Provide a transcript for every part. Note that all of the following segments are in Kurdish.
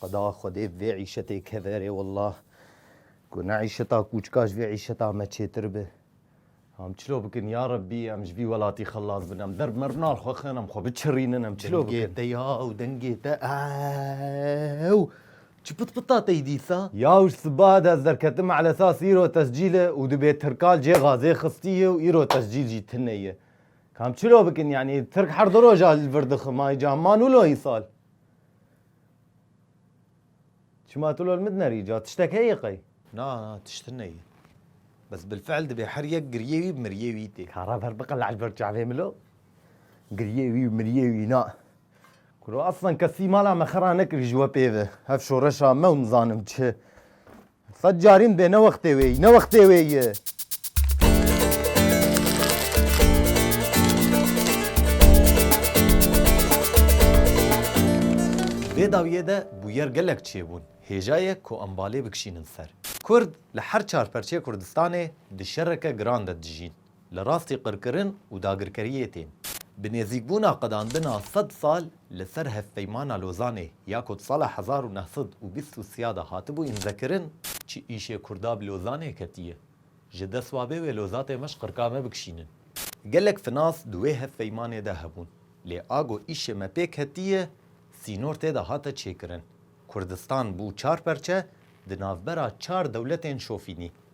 Xweda Xwedê vê îşetê keverê wallah. Ku ne îşeta kûçka ji vê îşeta me çêtir bi. Em çilo bikin ya Rebbî em ji vî welatî xelas bin. Em derb mernar xwe xin em xwe biçirînin em çilo bikin. Dengê te yaw dengê te ew. Çi pit pita tey dîsa? Yaw ji sibahe de ez derketim elesas îro tescîl e û dibê tirkal cê xazê xistî ye û îro tescîl jî tune ye. Kam çilo bikin yani Tirk her du roja li vir dixima îca man û lo îsal. Çima tu lo li min nerî îca tiştek heye qey? Na na tiştin neye. Bes bilfeil dibê her yek giriyê wî miriyê wî tê. Kara ver biqile li vir çavê min lo. Giriyê wî û miriyê wî na. Kuro aslan kesî mala me xera nekirî ji we pêve. Hev şoreşa me û nizanim çi. Sed carîn bê ne wextê wê yî, ne wextê wê yî. Vê dawiyê de bûyer gelek çêbûn, hêja ye ku em balê bikişînin ser. Kurd li her çar perçeyê Kurdistanê di şereke giran de dijîn. Li rastî qirkirin û dagirkeriyê tên. Bi nêzîkbûna qedandina sed sal li ser Hevpeymana Lozanê ya ku di sala hezar û neh sed û bîst û sîya de hatibû înzekirin, çi îşê Kurda bi Lozanê ketiye, ji dest wa bê wê lozatê me ji qirka me bikişînin. Gelek finas di wê hevpeymanê de hebûn, lê a ku îşê me pê ketiye, sînor tê de hate çêkirin. Kurdistan bû çar perçe, di navbera çar dewletên şofînî.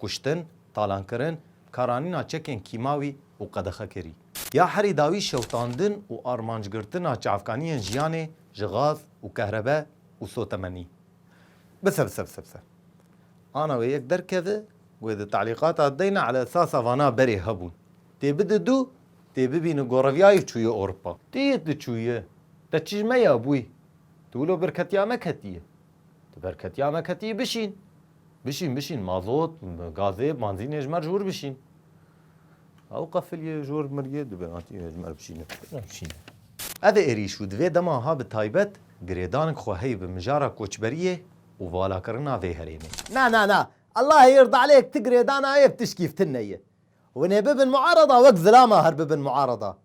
kuştin, talankirin, karanîna çekên kîmawî û qedexekerî. Ya herî dawî şewitandin û armancgirtina çavkaniyên jiyanê ji gaz û kehrebe û sotemenî. Bisebisebisebise. Ana wê yek derkeve ku wê di telîqata deyna ala esasa vana berê hebûn. Tê bide du, tê bibîne goreviyayê û çûye Ewropa. Tê yê tu çûye. Te çi ji me ya bûyî? Tu wilo birketiya me ketiye. Tu ber ketiya me ketiyî bişîn. Bişîn bişîn mazot, gazê, banzînê ji me re ji wir bişîn. Ew qefiliyê ji wir miriyê divê hatiyê ji me re bişîne. Bişîne. Ev êrîş û di vê dema ha bi taybet girêdanik xwe heye bi mijara koçberiyê û valakirina vê herêmê. Na na na. Ellahê yird elêk ti girêdana yê bi tişkî fitinne ye. Hûn ê bibin muarada wek zilama her bibin muarada.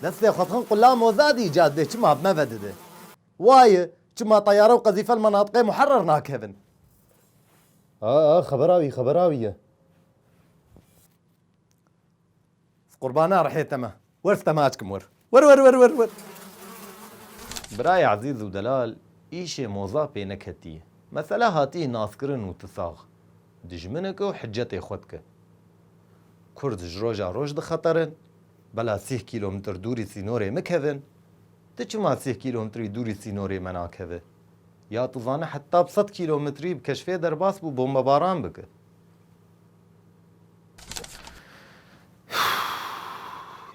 Destê xwe dixin qula Mozadî cadê çima bi me ve dide? Waye, çima teyare û qezîfe li menatiqê muherer nakevin? Aa, xebera wî, xebera wî ye. Bi qurbana rihê te me. Wer site me aşkim wer. Wer wer wer wer wer. Birayê ezîz û delal îşê Moza pê neketiye. Mesele hatiye naskirin û tu sax. Dijmineke û hicetê xwe dike. Kurd ji roja roj dixeterin. Bela sih kîlomtr dûrî sînorê mi kevin, ti çima sih kîlomtrî dûrî sînorê me nakevi? Ya tu zane heta bi sed kîlometrî bi keşfê derbas bû bombebaran bike.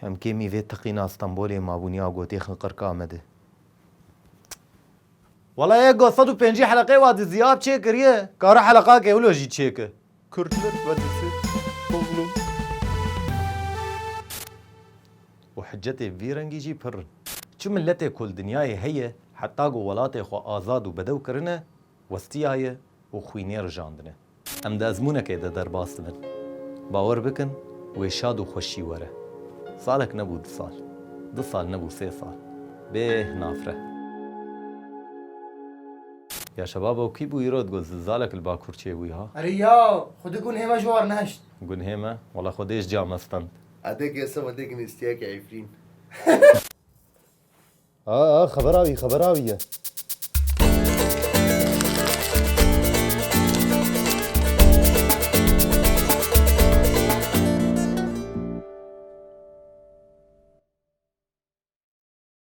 Em kêmî vê teqîna Stenbolê mabûn ya gotê xinqirka me di. Wala ya got sed û pencî heleqê wa di zîya bi çêkiriye, kara heleqa ke wilo jî çêke. Kurdlik vedisi Tozlu û hicetê vî rengî jî pir in. Çi miletê ku li dinyayê heye heta ku welatê xwe azad û bedew kirine westiyaye û xwînê rijandine. Em di ezmûnekê de derbas dibin. Bawer bikin wê şad û xweşî were. Salek nebû du sal. Du sal nebû sê sal. Bê hinafre. Ya şebabo kî bû îro digot zilzalek li bakur çê bû ya. Erê ya xwe di gunhê me ji war nehişt. Gunhê me? Wala xwe dê ji ca me stend. Ate ke se wede ginîstiya ke Efrîn. A a xeber awî xeber awî ye.